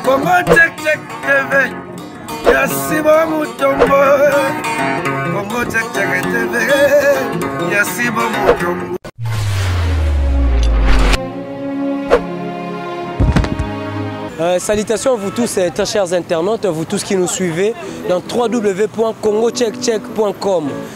Congo check check TV ya Simon Mutombo Congo check check TV ya Simon Mutombo Euh, salutations à vous tous, euh, très chers internautes, vous tous qui nous suivez dans www.congocheckcheck.com.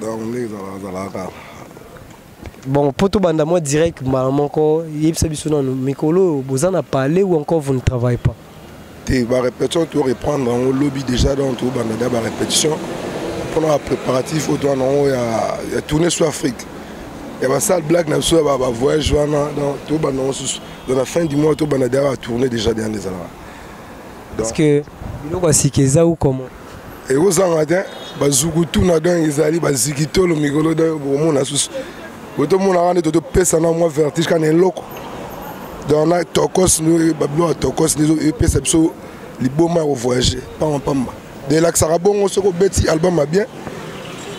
donc nde ezalaka bon mpo tobanda mwa direct mbala moko yebisa biso nano mikolo oyo boza na palais ou encore vous ne travaille pas te barépétition to reprendre yango lobi déjà donc tobanda da barépétition mpona bapréparatif oyo towana yango ya tourne sur afrique ya basale black na biso ya bavoyage wana donc tobanda yango susu dans la fin du mois tobanda da batourne déjà deande ezalaka parce que biloko ya sika eza ou comment ekozanga te bazukutuna donc ezali bazikitolo mikolo donc bokomona susu botomonaka nde totopesana mwa vertige kana eloko donc na tokos babiloko ya tokos nde epesa biso liboma ya kovoyage pamba pamba de elakisaka bongo soki obeti album ya bien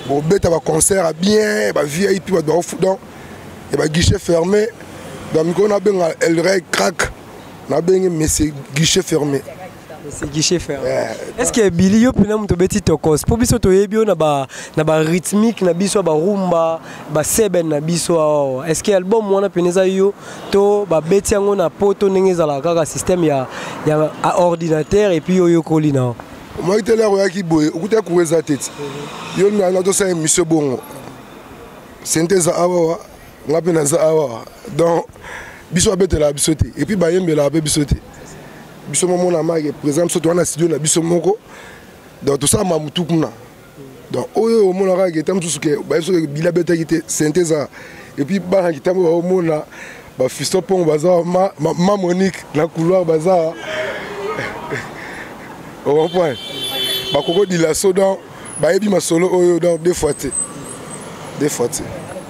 bobeta baconcert ya bien bavip bato baofu donc ya baguichet fermé donc mikolo nabenga elrey crack Na bengi mais c'est guichet fermé. C'est guichet fermé. Yeah. Est-ce que Billy yo pena muto beti tokos po biso to yebi na ba na ba rythmique na biso ba rumba ba seben na biso awa. Ah, Est-ce que album wana peneza yo to ba beti yango na poto ndenge ezala kaka système ya ya ordinateur et puis yo yo koli na. Moi te la roya ki boye okuta kuweza tete. Yo na na to sa emission bongo. Synthèse awa. nga mpe naza awa donc biso babetelaka biso te epuis bayembelaka mpe biso te biso momona make présent biso towana studio na biso moko donc tosala mamutu kuna donc oyo omonaka geta mosusu ke bayebi soki bila betaki te sente eza epuis bana kitambo baomona bafisto mpongo baza awa ma, ma, ma monique na couloir baza awa okomprendre bakokodila so donc bayebi masolo oyo donc deux fois te deux fois te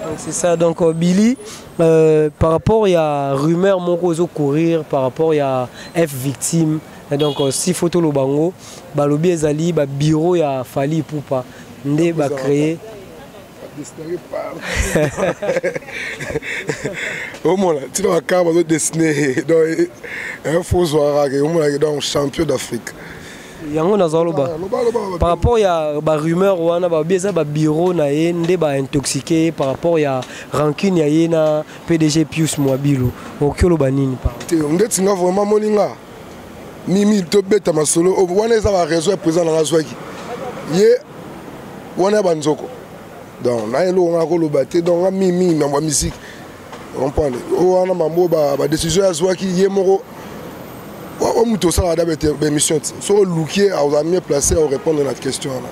donc c'est ça donc euh, billy euh, par rapport ya rumeur moko ozo courir par rapport ya f victime donc euh, si faut toloba yango balobi ezali babureau ya fali ipupa nde bacreye dessiner par omona ntina bakar bazo dessiner donc info zwaka ke omonake donc champion d'afrique yango naza oloba par rapport ya barumeur wana babi eza babiro na ye nde baintoxike ye par rapport ya rancune ya ye na pdg pius mwabilo okoki oloba nini te ndeti nga vraiment moni nga mimi tobeta masolo oh, wana eza ba raison ya président nanga azwaki ye wana ya banzoko donc naye eloko nga nakoloba te donc nga mimi mambo ya misiki comprendre oyo oh, wana mambo badécision ya azwaki ye moko oyo moto osalaka da baémission ti soki oluki ye aoza mieux placé aorépondre na question wana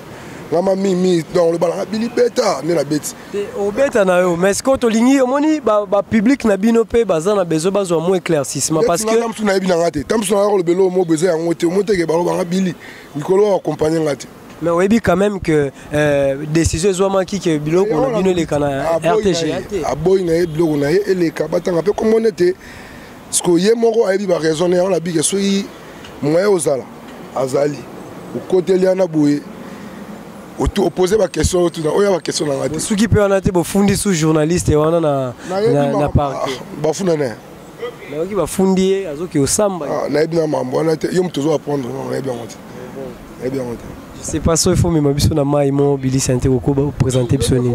nga mamimi donc oloba nanga bilibeta nde nabeti te obeta na yo mais sikoyo tolingi omoni bapublike na bino mpe baza na besoin bazwa mo éclaircissement parce que tamsu nayebi na nga te tamsu nanga kolobela oyo mo besoin yango te omoteke bango banga bili likolo ya akompagne nga te mais oyebi quand même que euh, décision ezwamaki ke biloko na bino eleka na rtg aboyi na ye biloko na ye eleka batanga mpe komona ete sikoyo ye moko ayebi ba raison ne yango na bike soki moyen ozala azali okoteli yana boye opose baquestion oyo tuna oyo ya baquestion na ngai te soki mpe wana te bofundi su journaliste wana na, na, na parke bafunda naye nayoki bafundi ye azoki osamba ah, nayebi na mambo wana te yo moto ozo apprendre nayebi yango te Eh bien, okay. c'est pas ça il faut mema biso na mai mo bilisa nte kokoba opresente biso nini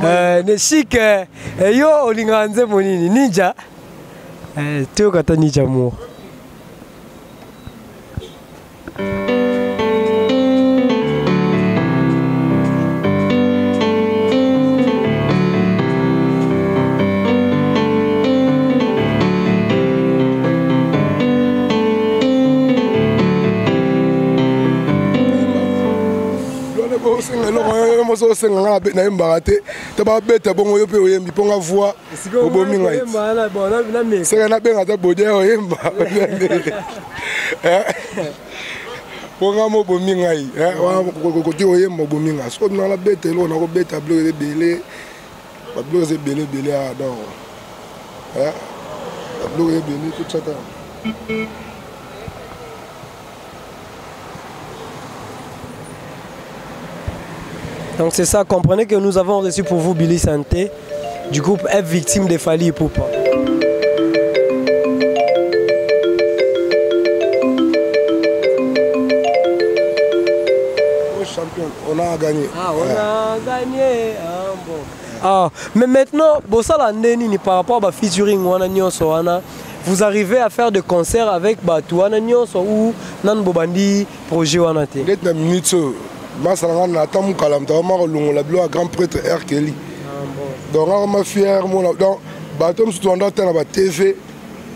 eh, ne chic eh, eh, yo olingaka nzembo nini ninja toyoka ata ninja mo osenga eloko yo mosi osenga nga nayembaka te to babeta bongo yo mpe oyembi mpo nga voi obomi ngai seka nabenga ata bodia oyemba mpo nga mo obomi ngai eh, wana kokoki oyemba obomi ngai soki nanga nabeta eloko nakobeta biloko ebele babiloko eza ebele ebele awa donc babiloko eza ebele totyaka Donc c'est ça, comprenez que nous avons reçu pour vous Billy Santé du groupe F victime de Fali et Poupa. On a gagné. Ah, on a gagné. Ah, bon. Ah, mais maintenant, Bossala Ndenini par rapport à featuring Wana Nyonso Wana, vous arrivez à faire des concerts avec Batu Wana Nyonso ou Nan Bobandi projet Wana te Peut-être la minute, euh, Masalanga Nata Moukala, Mtawama Longola Bilo, grand prêtre R. Kelly. Ah, bon. Donc, on m'a fier, mon. Donc, Batu Mstouanda, Tana, TV,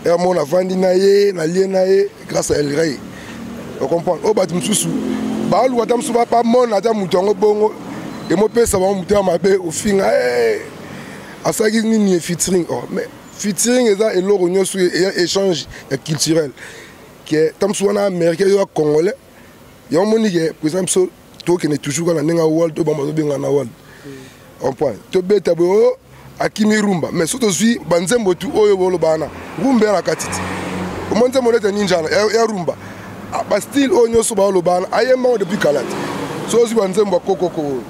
on a vendu Naye, Nalie Naye. grâce à elrey ocomprendre oyo bato mosusu baluka ata mosusu bamona ata moto yango bongo emopesa bango moto ya mabe ofinga eh, asalaki nini ye fitring oh, mais fitring eza eloko nyonso eya échange ya culturel ke ta mosusu wana américain yo ya congolais yango omoni ke président biso tokende toujours kaka na ndenge awal to bango bazobengana na wal comprendre tobeta boye o oh, akimi rumba mais soki tozwi banzembo tu oyo boloba wana rumba ya na kati ti omoni nzembo nete ninjana ya rumba ah, bastyle oyo nyonso baoloba wana ayemba yango depuis kala te soki ozwi banzembo ya kokoko oyo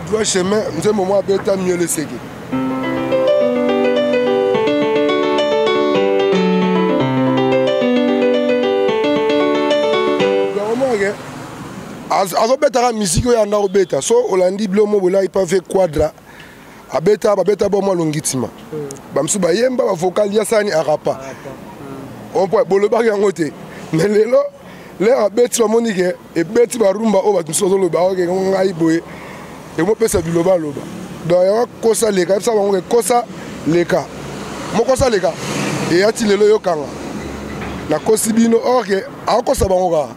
droit chemin nzembo mwa abeta mieux le seke azobetaka miziki oyo anda kobeta so olandi bilomo bolai pave quadra abeta babeta bo mwa longitima hmm. bamosusu bayemba bavocal ya sani arapa hmm. ompo bolobaki yango te me lelo lere abeti bamoni ke ebeti barumba oyo bato mosusu bazoloba oke ngai boye ekomopesa bilobaloba donc yango kosa leka yebisa bango ke kosa leka mokosa leka eyati lelo yokanga nakosi bino orke akokosa bango kaka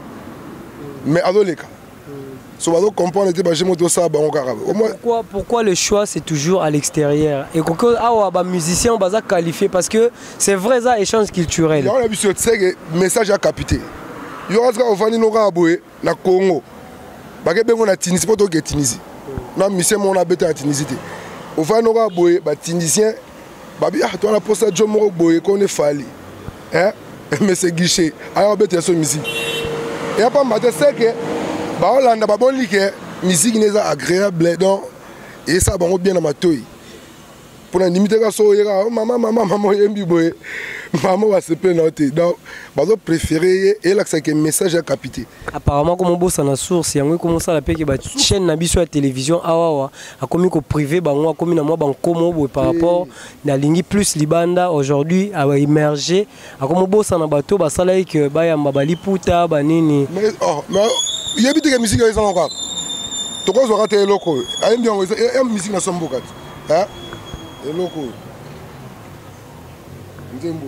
mais azoleka so bazo comprendre te baje moto osala bango kaka pourquoi, pourquoi le choix c'est toujours à l'extérieur ekoki awa bamusicien baza qualifié parce que c'est vrai eza échange culturel yango na biso tseke message ya capite yo kati kaka ofandi no kaka boye na congo bake bengo na tunisie mpo toke tunisie na musicien moko nabeta na tunisie te ofandi no kaka boye batunisien babi ah towana mposa jo moko boye kone fali eh, mese guichet aya kobeta yaso miziki ya pamba te seke baolanda baboni ke miziki ne eza agréable donc esala bango bien na matoi mpo na ndimi te ka so oyeka oh, mama mama mama oyembi boye mama basepeli na yo te donc bazo préféré ye elakisa ke message ya kapite apparemment komobosana source yango ekomosala mpe ke bachaîne na biso ya télévision awawa akomi koprive bango akomi na mwa bankomo boye par rapport nalingi plus libanda aujourd'hui a emerger akomobosana bato basalaki ke bayamba baliputa banini oh, yebi teke misiki oyo ezanga kaka tokozwaka te eloko oyo ayembi yango ya misiki na somboka te eloko oyo nzembo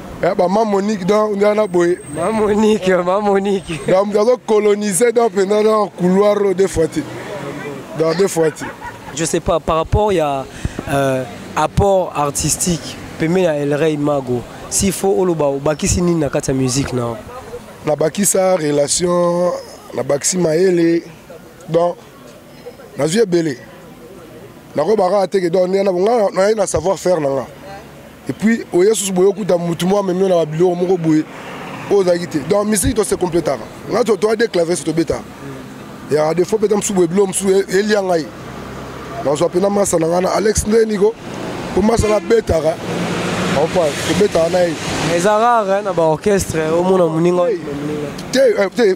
Eh, ba ma monique donc nde wana boye ma monique ma monique donc moto azo colonise donc mpenza na couloir oyo deux fois te donc deux fois te je sais pas par rapport ya euh, apport artistique pembeni ya elrey mago s'il faut oloba obakisi nini na kati ya musique na nabakisa relation nabakisi mayele donc nazwi ebele nakoyeba kaka te ke donc ndenge na bonga naye na savoir faire na nga epuis oye susu boye okuta motu moko amemi na babiloko moko boye oyo ozalaki te donc misiki tose completaka nga toa de clavier so tobetaka ya defo mpe ta mosusu boye biloko mosusu e, elia ngai nazwa mpe na masa na ngai na alex nde niko mpo masa nabetaka opa tobetaka na ye ezaka na baorchestre omona moninga te eh,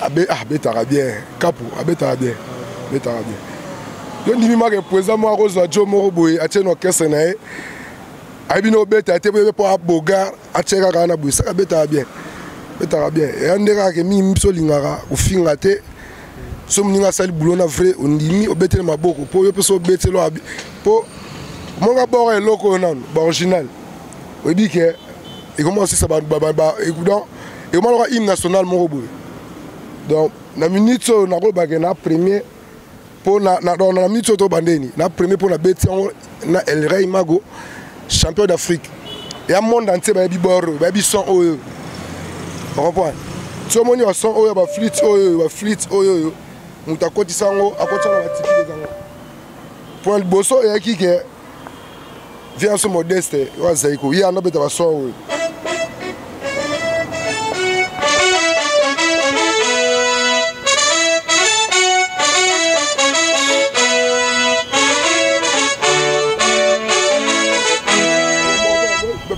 abe ah, abetaka bien kapu abetaka bien abetaka bien yo ndimi maka epueza moko akozwa jo moko boye atie na orchestre na ye ayebi na obeta te boye mpo abogar atie kaka na boye saka abetaka bien abetaka bien eya nde kaka ke mingi biso olingaka kofinga te so moninga asali bulo na vrai ondimi obetele maboko mpo yo mpe so obetelo mpo monga boko eloko oyo nano baoriginal oyebi ke ekoma osisa donc ekoma loka hymne national moko boye donc na minute oyo nakolobake na premier mpo na minute oyo tobandeni na premier mpo na beti yango na elrey mago champion d'afrique ya monde entier bayebi bor oyo bayebi son oyo ocomprendre ti omoni bason oyo baflite oyo baflite oyo oyo moto akotisa yango akotisa yango batiki ezango mpo na liboso eyaki ke vie yanso modeste oyo azali koye anda obeta bason oyo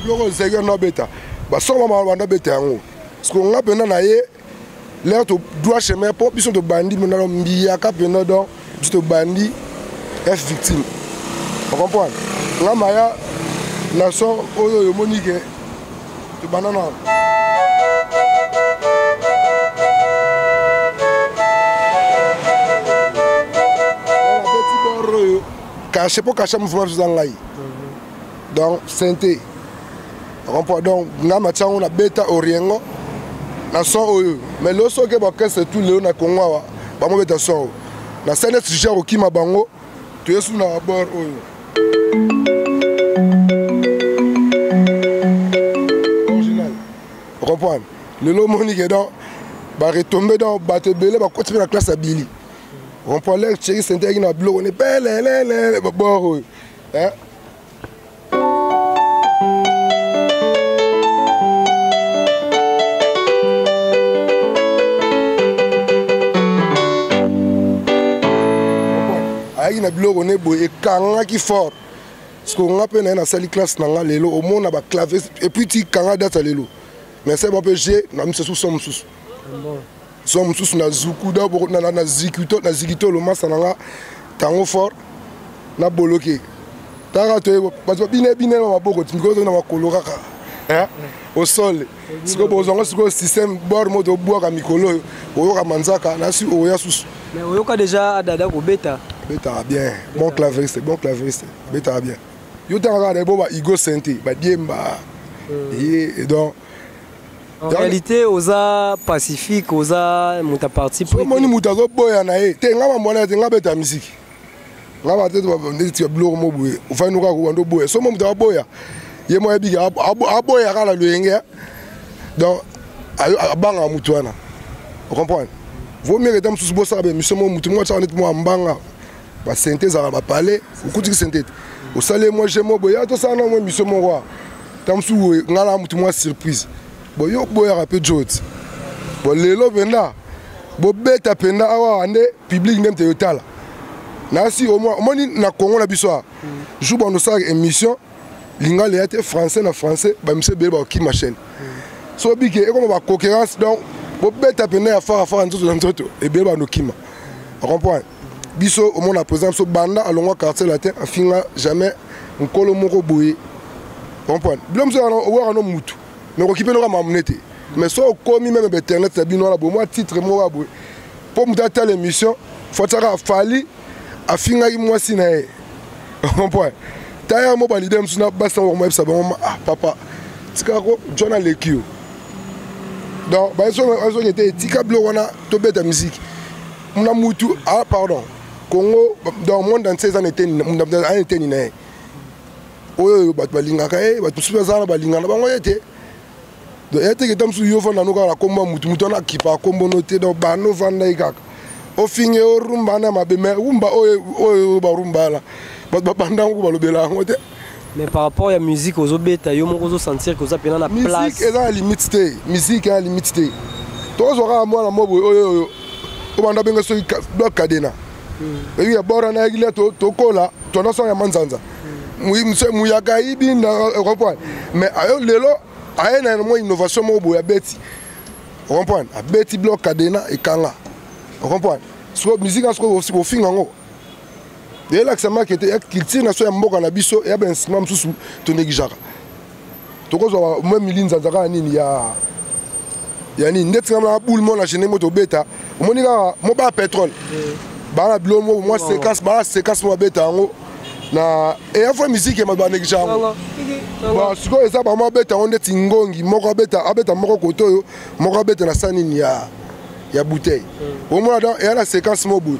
biloko ezalaki wana obeta basongo mama banda obeta yango sikoyo nga mpenza na ye leo to droit chemin mpo biso tobandi monalo mbiyaka mpena donc biso tobandi f victime ocomprendre nga maya na son oyo oyo omoni ke tobanda na kashe mpo kashe mouvement biso eza ngai donc sente comprend donc nga matia yango na beta oriengo na son oyo mais lelo soki baorchestre tout lelo na congo awa bango beta son oyo na sene sujet ya kokima bango toye su na abord oyo original comprendre lelo omoni ke donc baretombe donc bato ebele bakoti mpe na classe ya bili comprendre lere tieki senteyaki na biloko ne pelelele babor oyo eh? ayaki na biloko ne boye ekangaki fort sikoyo nga mpe naye nasali classe na nga lelo omona baclave epuis ti kanga data lelo mais sema mpe je na miso susu mosusu son mosusu na zuku da boko na na zikito na zikito lomasa na nga tango fort na boloke taka to bato bine bine na maboko tindiko to na makolo kaka hein au sol siko bozwa ngo siko système bord mo to bwaka mikolo oyo oyoka manzaka na si oya susu mais oyoka déjà adada ko beta betaka bien bon claveriste bon claveriste betaka bien yo tanga kaka na ebo ba igo sente ba diemba hmm. ye donc En réalité, oza pacifique, oza muta parti pris. Moni muta zo boya na ye. Te nga mamona te nga beta musique. Nga ba tete ba ndeti tia biloko mo boye. Ofa nuka ko bando boya. Somo muta boya. Ye mo yebi ka aboya kala loyenge. Donc abanga mutu wana. Vous comprenez? Vaut mieux que tam sous bossa be mission mo mutu mo tsa net mo ambanga. basente ezalaka bapale okutiki sente te osali mwa je mo boya tosala na mwa emisio moko a ntango mosusu boye ngai na motu mwa surprise boye oboyaka mpe joti bo lelo mpenza bobeta mpenza awa nde publike nde mteyo tala nasi omoni na congo na biso a jour bando osalaka émission lingala eya te français na français bamiso ebele bakokima chaîne so obike ekoma baconcurrence donc bobeta mpenza ya farafara nzoto na nzoto ebele bando kima ocomprendre biso omona président biso banda alongwa quartier latin afinga jamais nkolo moko boye comprendre bilo mosusu owaka no mutu mais okoki mpe noka mamune te mais so okomi meme ba internet na bino wana boye mwa titre moko ya boye mpo moto atala émission fo atyaka afali afingaki mwasi na ye comprendre taya mo balide mosusu na basi na kokomayebisa bango ah papa tika ko jona aleki yo donc bazoki ete etika biloko wana tobeta miziki na mutu ah pardon congo dans monde entier eza na eteni na eteni na ye oyo oyo bato balingaka ye bato mosusu baza na balingaka na bango ye te ye te keta mosusu yo ofanda no kaka na kombo ya motu motu wana akipa kombo no te donc bana ofanda ye kaka ofinge orumba na mabe me rumba oyo oyo barumba wana bato babanda yango balobela yango te mais par rapport ya musique ozobeta yo moko ozosentir que oza mpena na place eza na limite te musique eza na limite te tozwa kaka mwana mobo oyo oyo obanda benge soki blok kadena eyi ya bora na yekile tokola tona sanga ya manzanza muyaka ayibi na comprendre mais ayo lelo aye na mwa innovation moko boye abeti ocomprendre abeti blok kadena ekanga ocomprendre siko musique yango sikoyo ofinga yango elakisa make te ya culture na so ya mboka na biso ya bainstrument mosusu tonegijaka tokozwa mwa milinzanza kaka nini ya ya nini nde tika na boule mona je ndenge tobeta omoni kaka mo ba pétrole eh. baa na bilo moko mwa sekase baa sekase mwa beta yango na eya fois musique ya banekisa yango bon sikoyo eza bamwa abeta yango ndeti ngongi moko abeta abeta moko kote oyo moko abeta na sanini ya ya bouteille hmm. omona donc eya na séquence moko boye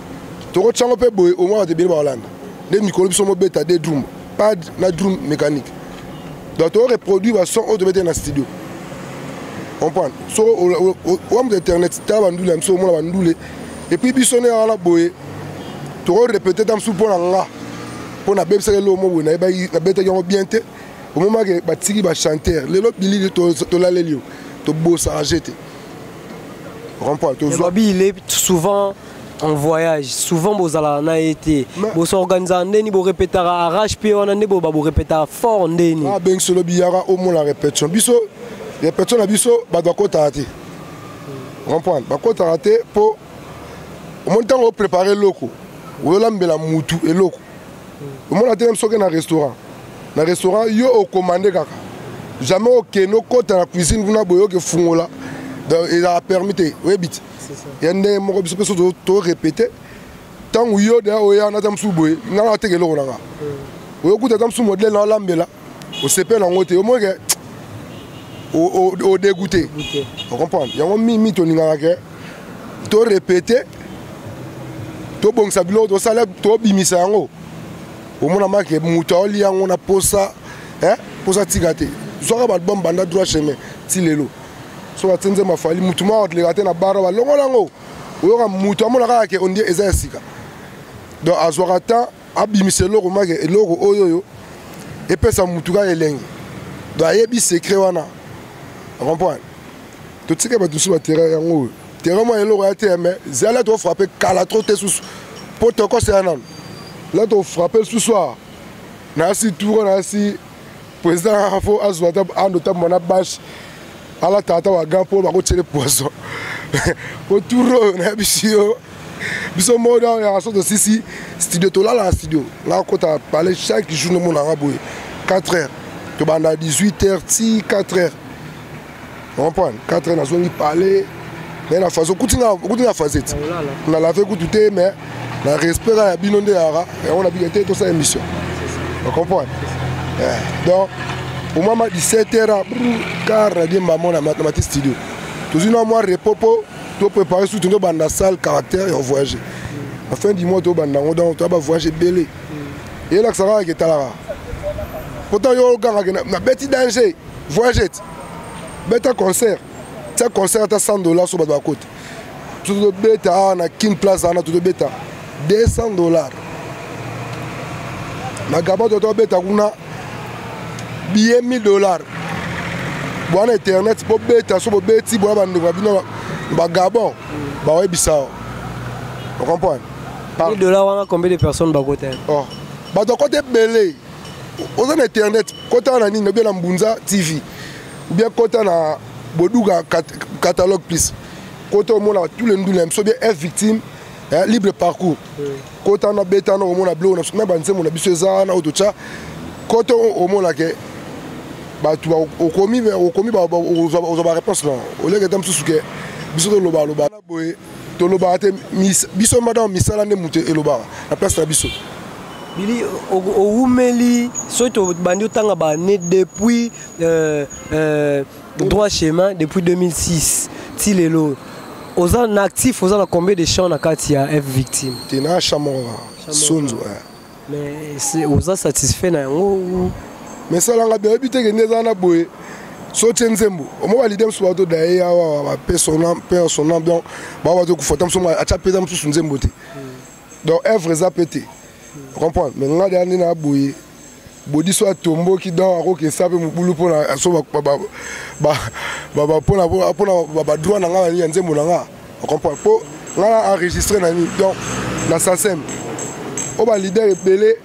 tokotya yango mpe boye omona bato ebele bakolanda nde mikolo biso mobeta de drum pad na drum mécanique donc tokoreproduire bason oyo tobeteli na studio comprendre soki owa moto internet tala bandule ya biso omona bandule epuis biso nde wana boye tokorepete ta mosusu mpo na nga mpo nabebisaki eloko mo boye nayebaki nabetaki yango bien te omomaki batiki bachanteur lelo bilili tolaleli yo tobosaka je te rond-point tozwa babi il est souvent en voyage souvent bozalaka na ye te bosorganisaka ndeni borepetaka arrache mpe wana nde boba borepetaka fort ndeni abengisi lobi yaka omona repetition biso repetition na biso bato bakotaka te comprendre bakotaka te mpo omoni ntango oprépare eloko oyola mbela mutu eloko omona te meme soki na restaurant na restaurant yo okomande kaka jamais okende okota na cuisine kuna boye oke fungola ezala permis te oyebi ti ya ndenge moko biso mpe so torepete ntango yo deya oya nata mosusu boye ngai nateka eloko na ngai oyokuta ata mosusu modele na olambela osepela yango te omoi ke odegoute ocomprendre yango mimi tolingaka ke torepete tobongisa biloko tosala tobimisa yango omonama ke moto aoli yango na posa posa tika te zwaka baalbum banda droit chemin ti lelo soki atie nzembo afali motu moko atleka te na bara balongola yango oyoka motu amona kaka ke ondie eza ya sika donc azwaka temps abimisa eloko maki eloko oyo oyo epesa mutu kaka elengi do ayebi secret wana comprendre totika bato mosusu baterrain yango oyo terrain mwa eloko ya te me zala tofrappe kala tro te susu mpo tokosela nano la tofrappe lisusu awa nayasi tour nayasi président kaka fo azwa ata ando tambwa na bashe alata ata wagan mpo bakotyele poison po tour oyo nayebisi yo biso moko na oyaka so tosisi studio tolala na studio nakota pale chaque jour nomonanga boye 4 heures tobanda 18 heures ti 4 heures comprendre 4 heures nazongi palais mais na façon okuti na facette na lave kutu te mais na respect ya bino nde yaka yango na bino te tosala émission ocomprendre eh, donc omama 17 heures car na diemba mona na mati studio tozwi na mwa repos mpo toprépare surtout tobanda salle caractère ya voyage na fin du mois tobanda yango donc toya bavoyage ebele eyelakisa kaka ketalaka pourtant yo ogangaka nabeti danger voyagete beta concert tia concert ata 100 dollars so bato bakota tozobeta awa na kin place wana tozobeta 200 dollars na gaba toto abeta kuna billet 1000 dollars bwana internet bobeta so bobeti bwana bandeko na bino bagabon bayebisa yo ocomprendre dollars wana combien de personnes bakota oh. bato akota ebele oza na internet kota na nini obia na mbunza tv obia kota na boduga kat, catalogue plus kota omona tous les ndule ya biso obia f victime eh, libre parcours kota na beta na omona biloko na biso na banzembo na biso eza wana oyo totya kota omona ke bato okomi okomi ozwa bareponse na oleketa mosusu ke biso tolobaloba boye tolobaka te biso mada misala nde moto elobaka na place na biso bili owumeli soki tobandi otanga baannée depuis euh, euh, droit chemin depuis 2006 ti lelo oza na actif oza na combien de champ na kati ya f victime te na champ moko sonzo mais oza satisfait na yango mais salanga bien oyebi te kende eza na boye sotie nzembo omoko alide mosusu bato daye ya wawa bape sona mpe sona donc bao bato kufata mosusu ngo atya mpe eza mosusu nzembo te donc œuvre eza mpe te comprendre mais nga deya nde na boye bodiso atomboki donc akokesa mpe mobulu mpona so mpona badroit na nga ya nzembo na nga ocomprendre mpo ngai na enregistre na nini donc na sasem oyo balider ebele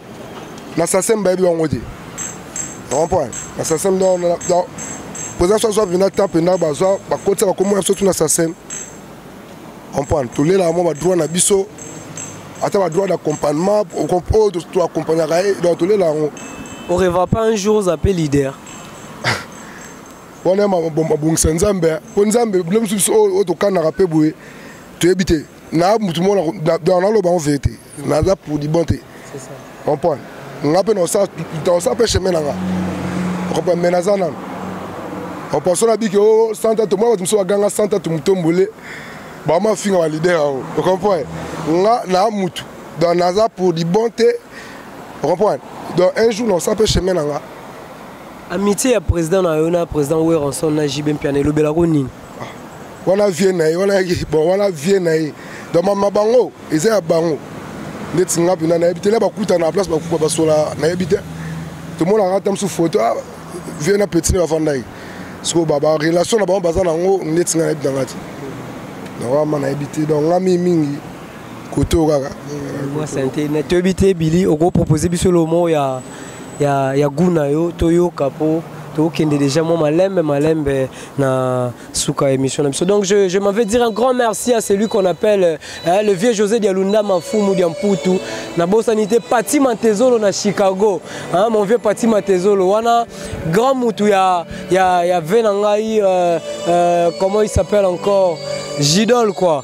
na sasem bayebi bango te ocomprendre na sasem président so azwa mpenza temps mpenza bazwa bakotisa bakombo na biso tuna sasem comprendre tolelaka mwa badroit na biso ata badroit d'accompagnement oyo toaccompagnaka ye donc tolela yango oreva pas un jour oza mpe leader wana mabongisa nzambe mpo nzambe bino biso biso oyo tokanaka mpe boye toyebi te na motu mona naloba yango veye te naza prudibon te comprendre nga mpe naosala mpe chemin na nga okopa me naza nano opaso nabiki o oh, santa tomona bato mosusu baganga santa tomotombole bama afinga balider yango ocomprendre nga na mutu donc naza prudibon te ocomprendre donc un jour naosala mpe chemin na nga Amitié ya président na yo na président Weronson na JB Mpiana elobela ko nini? Ah, wana vie na ye wana bon wana vie na ye donc mama bango eza ya bango ndeti nga mpena nayebi te na bakutana na place bakuba basola nayebi te tomonaka ata mosusu foto ah, vie na petit na bafandaki sikoyo barelation na bango baza nango ndeti nga nayebi nanga te nawama nayebi te donc nga mingi mingi koto kaka toyebi te bili okopropose biso lomo ya ya, ya goût na yo toyoka po tokende déjà moi malembe malembe na suka émission na biso donc je, je m'en vais dire un grand merci à celui qu'on appelle hein, le vieux José Dialunda Mafumu Diamputu na bosani te Pati Matezolo na Chicago hein, mon vieux Pati Matezolo wana grand mutu ya ya ya venangai euh, euh, comment il s'appelle encore Gidol quoi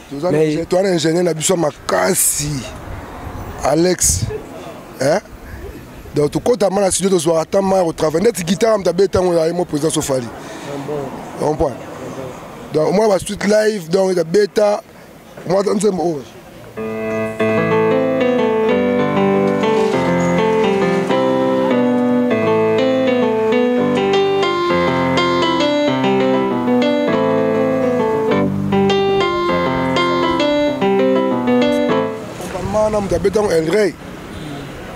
Mais... toza na ingénieur na biso makasi alex eh? donc tokotama na studio tozwaka ata mai kotravaille ndeti gitare moto abe ntango ya ye mo président sofali comprendre donc omona basuite live donc abeta omona ta nzembo oyo wana moto abeta yango elrey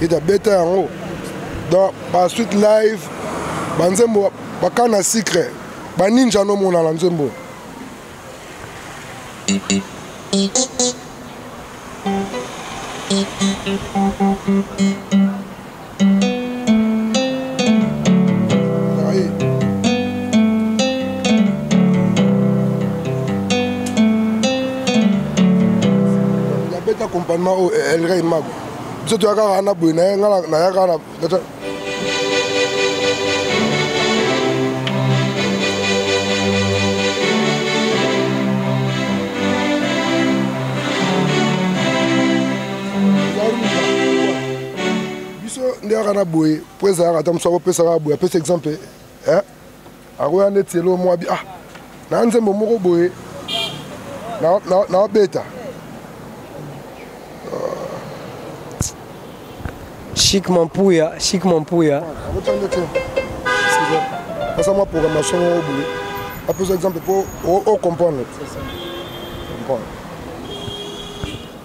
ete abeta yango donc basuite live banzembo bakana sucre baninja nomona na nzembo Thank you. abeta accompagnement oyo oh, elrey eh, mago biso toya kaka na boye naye nga naya kaka biso nde yaka na boye mpo ezalaka ata mosu akopesa kaka boye apesa exemple eh? akoya ndeti elo mwa bi ah na nzembo moko boye naobeta chic mampuya chic mampuya asa mwa programmation moko boye apesa exemple mpo ocomprendre comprendre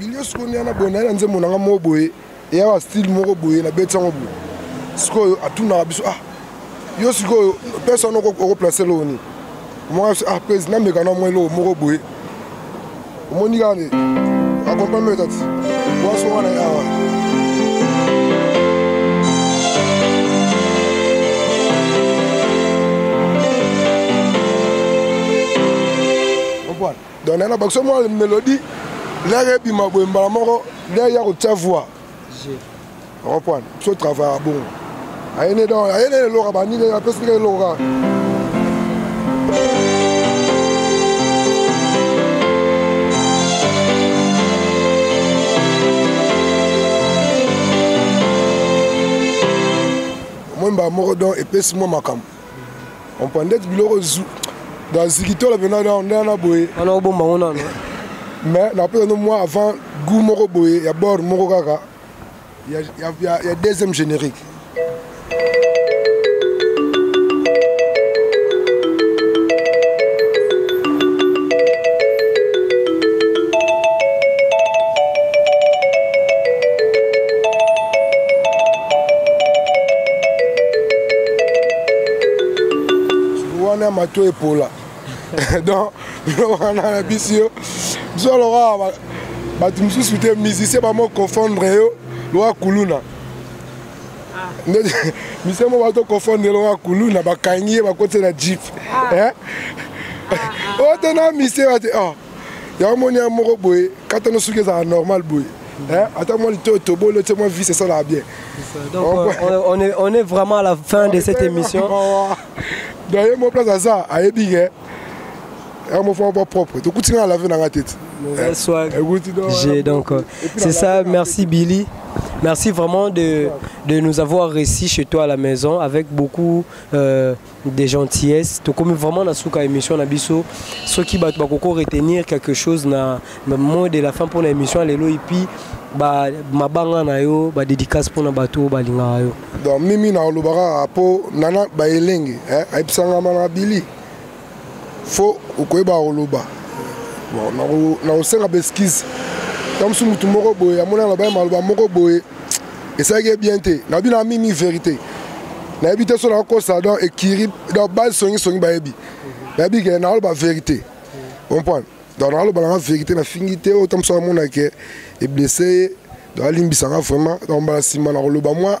bilio sikoyo nde wana boye naye na nzembo na nga moko boye eya ba style moko boye na beti yango boye sikoyo atunaka biso ah yo sikoyo pesa wana okoplace eloko nini omona biso ah pesi nameka na mwa eloko moko boye omoni kaka nde akompame etati waso wana awa donc nayena bakso mwa melodie lere ebima boye mbala moko lere ya kotia voix okompwane biso travaillaka bongo ayene donc ayene eloka bandike apesi ndike eloka omoi mbala moko donc epesi mwa makambo ompandeti biloko zu na zikitola mpe nana na boye wana obomba ngo nano mais napesa no moi avant gout moko boye ya bord moko kaka ya, ya, ya, ya deuxième générique wana mato epola donc wana na bisi yo biso lokola bato mosusu te musicien bamo confondre yo lokola kuluna ndeti mise moko bato kofondela oyo akulu na bakangi ye bakoti na jeep oyo te na mise bati yango moni ya moko boye katano soki ezala normal boye hein? ata mwa litoyo toboli otie mwa vise esalaka bien euh, on, est, on est vraiment à la fin de cette émission donc ye mo place aza ayebi ke yango mofama mwa propre tokuti nga na lave na nga tete j'ai donc euh, c'est ça merci billy merci vraiment de, de nous avoir réussi chez toi à la maison avec beaucoup euh, de gentillesse tokomi vraiment na suka émission na biso soki bato bakoko retenir quelque chose na mot de la fin mpona émission ya lelo epuis mabanga na yo badédicace mpona bato oyo balingaka yo donc mimi na olobaka kaka mpo nana baelenge ayebisanga mana bili fo okoyeba koloba nakosenga beskize na mosusu motu moko boye amoni aloba ye maloba moko boye esalaki ye bien te na bino amimi verité nayebi te so nakokosa donc ekiri donc base songisongi bayebi nayebi ke naaloba verité comprendre donc naaloba nanga verité nafingi te oyo ta mosusu amona ke eblesse ye donc alimbisa nga vraiment donc mbala nsima nakoloba mwa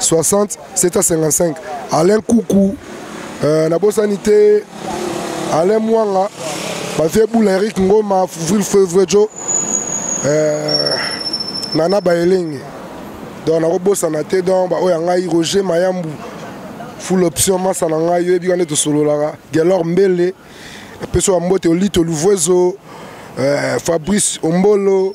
60 755 alain kuku euh, nabosani te alain mwanga bavie bula eric ngoma fuvril fevrejo euh, nana baelenge donc nakobosana te donc baoyo ya ngai roger mayambu full option masa na ngai oyebi wana tosololaka gelor mbele apesi wa mbote olito luvuezo euh, fabrice ombolo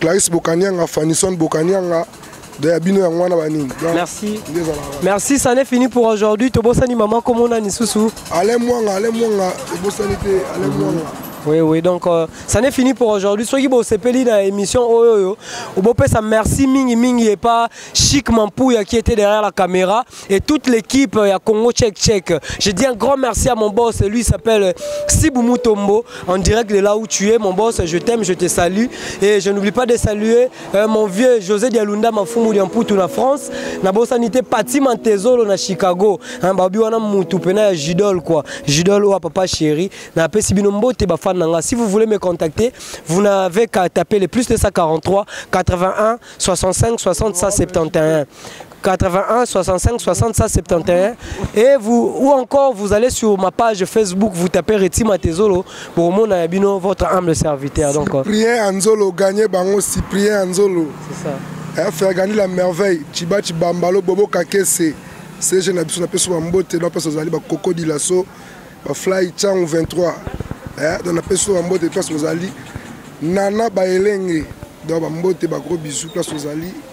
Clarisse Bokanianga, Fanison Bokanianga, ya bino yango wana banini merci merci ça n'est fini pour aujourd'hui tobosani mama komona lisusu ale mwanga ale mwanga ebosani te ale mhm. mwanga Oui, oui, donc euh, ça n'est fini pour aujourd'hui. Soki bo sepeli na émission oyo yo, bo pesa merci mingi mingi et pas chic Mampouya qui était derrière la caméra. et toute l'équipe ya Congo Check Check. Je dis un grand merci à mon boss, lui s'appelle Sibou Mutombo, en direct de là où tu es. Mon boss, je t'aime, je te salue. Et je n'oublie pas de saluer euh, mon vieux José Dialunda Mafumu Diamputu na France. Na bosanité Pati Mantezolo na Chicago. Hein, babi wana mutu pena ya Jidol quoi. Jidol ou papa chéri. Na pesi bino mbote ba fan nanga. Si vous voulez me contacter, vous n'avez qu'à taper le plus 243 81 65 60 171. 81 65 60 171 et vous ou encore vous allez sur ma page Facebook vous tapez Reti Matezolo pour mon abino votre humble serviteur donc euh, Cyprien Anzolo gagné bango Cyprien Anzolo c'est ça eh, faire gagner la merveille Chiba Chibambalo Bobo Kakese c'est jeune absou na peso mbote na peso zali ba coco dilaso ba fly chang 23 eh dans la peso mbote peso zali nana ba elenge dans ba mbote ba gros bisous peso zali